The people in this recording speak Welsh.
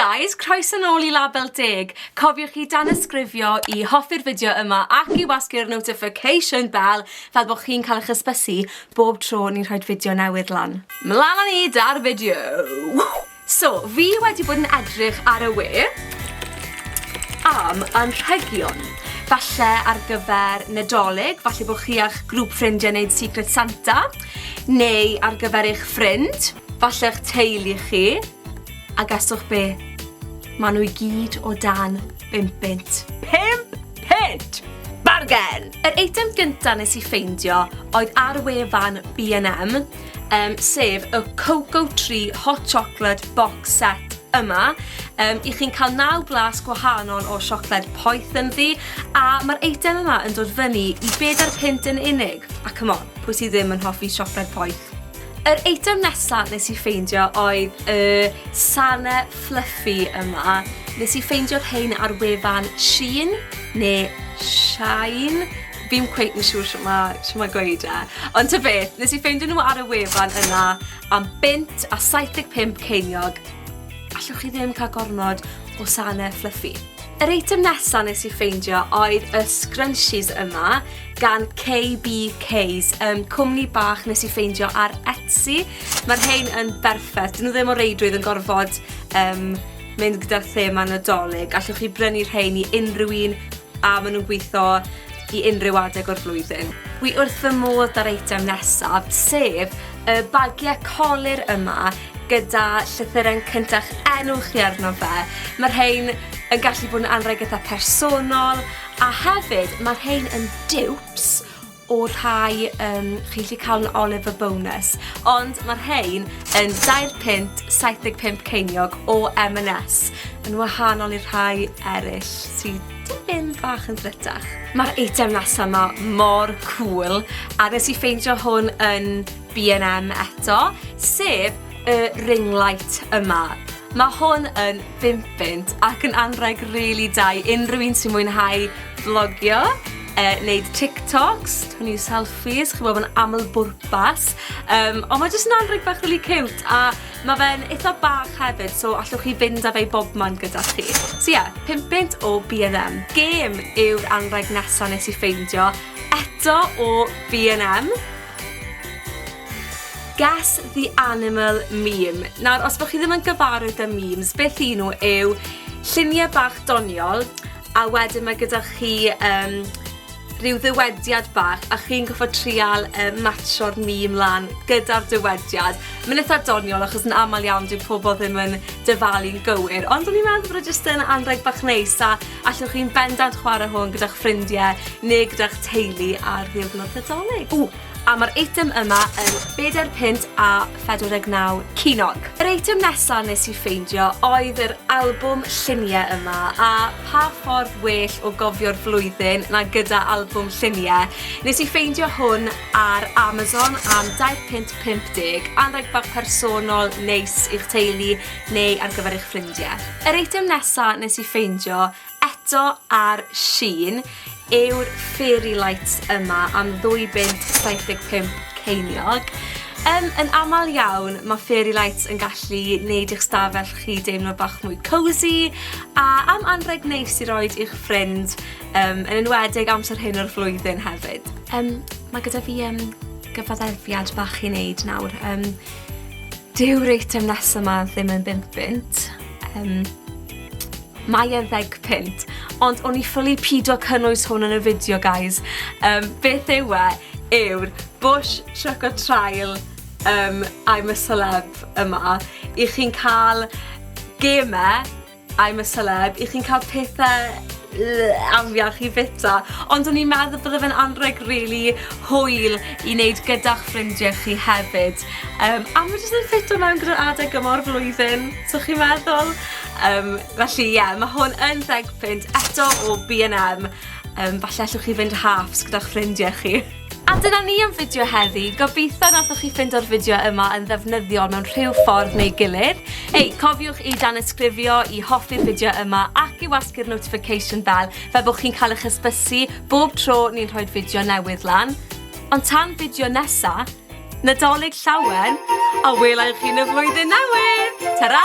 guys, croeso nôl i Label Deg. Cofiwch i danysgrifio i hoffi'r fideo yma ac i wasgu'r notification bell fel bod chi'n cael eich ysbysu bob tro ni'n rhoi fideo newydd lan. Mlaen â ni da'r fideo! So, fi wedi bod yn edrych ar y we am anrhegion, falle ar gyfer Nadolig, falle bod chi a'ch grŵp ffrindiau wneud Secret Santa, neu ar gyfer eich ffrind, falle eich teulu chi, a gaswch be? Maen nhw i gyd o dan bimp bint. Pimp pint! Bargen! Yr eitem gyntaf nes i ffeindio oedd ar wefan B&M, um, sef y Cocoa Tree Hot Chocolate Box Set yma. Um, I chi'n cael naw glas gwahanol o siocled poeth yn ddi, a mae'r eitem yma yn dod fyny i bedair pint yn unig. A come on, pwy sydd ddim yn hoffi siocled poeth? Yr eitem nesaf nes i ffeindio oedd y Sane Fluffy yma. Nes i ffeindio'r hein ar wefan Shein, neu Shine, Fi'm cweit yn siŵr shwt ma' shwt ma' gweud e. Ond ta beth, nes i ffeindio nhw ar y wefan yna am bunt a 75 ceiniog. Allwch chi ddim cael gormod o sane fluffy. Yr eitem nesa nes i ffeindio oedd y scrunchies yma gan KBK's, um, cwmni bach nes i ffeindio ar Etsy. Mae'r rhain yn berffaith, dyn nhw ddim o reidrwydd yn gorfod um, mynd gyda'r thema nadolig. Allwch chi brynu rhain i unrhyw un a maen nhw'n gweithio i unrhyw adeg o'r flwyddyn. Wi wrth fy modd da'r eitem nesaf, sef y bagiau colur yma gyda llythyren cyntaf enw chi arno fe. Mae'r rhain yn gallu bod yn anrheg eitha personol a hefyd mae'r rhain yn dupes o rhai um, chi'n gallu cael yn Oliver Bonus, ond mae rhain yn 2 pint 75 ceiniog o M&S, yn wahanol i'r rhai eraill sydd tipyn bach yn ddrytach. Mae'r eitem nesaf yma mor cool, a nes i ffeindio hwn yn B&M eto, sef y ring light yma. Mae hwn yn bimpint ac yn anrheg rili really da i unrhyw un sy'n mwynhau vlogio, e, wneud TikToks, twnnu selfies, chi'n bod yn aml bwrpas. Um, ond mae jyst yn anrheg bach really cute a mae fe'n eitha bach hefyd, so allwch chi fynd â fe i bob man gyda chi. So ie, yeah, pimpint o B&M. Gêm yw'r anrheg nesaf nes i ffeindio eto o B&M. Guess the animal meme. Nawr, os bod chi ddim yn gyfarwydd â memes, beth i nhw yw lluniau bach doniol, a wedyn mae gyda chi um, rhyw ddywediad bach a chi'n goffa trial um, matcho'r mîm lan gyda'r dywediad. Mae'n eitha doniol achos yn aml iawn dwi'n pobl ddim yn dyfalu'n gywir, ond o'n i'n meddwl bod e jyst yn anreg bach neis a Allwch chi'n bendant chwarae hwn gyda'ch ffrindiau neu gyda'ch teulu ar ddiwrnod Nadolig. Ww! A mae'r eitem yma yn bedair punt a phedwar deg naw ceiniog. Yr eitem nesa nes i ffeindio oedd yr albwm lluniau yma, a pa ffordd well o gofio'r flwyddyn na gyda albwm lluniau. Nes i ffeindio hwn ar Amazon am dair punt pump deg, anrheg bach personol neis i'ch teulu, neu ar gyfer eich ffrindie. Yr eitem nesa nes i ffeindio eto ar Shein yw'r fairy lights yma am ddwy bunt 75 ceiniog. Yn, yn aml iawn, mae fairy lights yn gallu neud i'ch stafell chi deimlo bach mwy cosy a am anreg neis i roed i'ch ffrind, um, yn enwedig amser hyn o'r flwyddyn hefyd. Um, mae gyda fi um, gyfaddefiad bach i wneud nawr. Um, Dyw'r eitem nesaf ma ddim yn bimp bunt. Um, mae e'n ddeg punt. Ond o'n i ffili pido cynnwys hwn yn y fideo, guys. Um, beth yw e? Yw'r Bush Choco Trial um, I'm a Celeb yma. I chi'n cael gemau I'm a celeb, i chi'n cael pethe yy afiach i fita, ond o'n i'n meddwl bydde fe'n anrheg rili hwyl i neud gyda'ch ffrindie chi hefyd, yym a ma' jyst yn ffito mewn gyda'r adeg yma o'r flwyddyn, so chi'n meddwl? Yym felly ie, ma' hwn yn ddeg punt eto o Bee and Em, yym falle allwch chi fynd halfs gyda'ch ffrindie chi. A dyna ni am fideo heddi, gobeithio nathoch chi ffindo'r fideo yma yn ddefnyddiol mewn rhyw ffordd neu gilydd. Ei, cofiwch i danysgrifio, i hoffi'r fideo yma ac i wasgu'r notification bell fel bod chi'n cael eich hysbysu bob tro ni'n rhoi'r fideo newydd lan. Ond tan fideo nesa, Nadolig llawen, a welai chi yn y flwyddyn newydd! Ta-ra!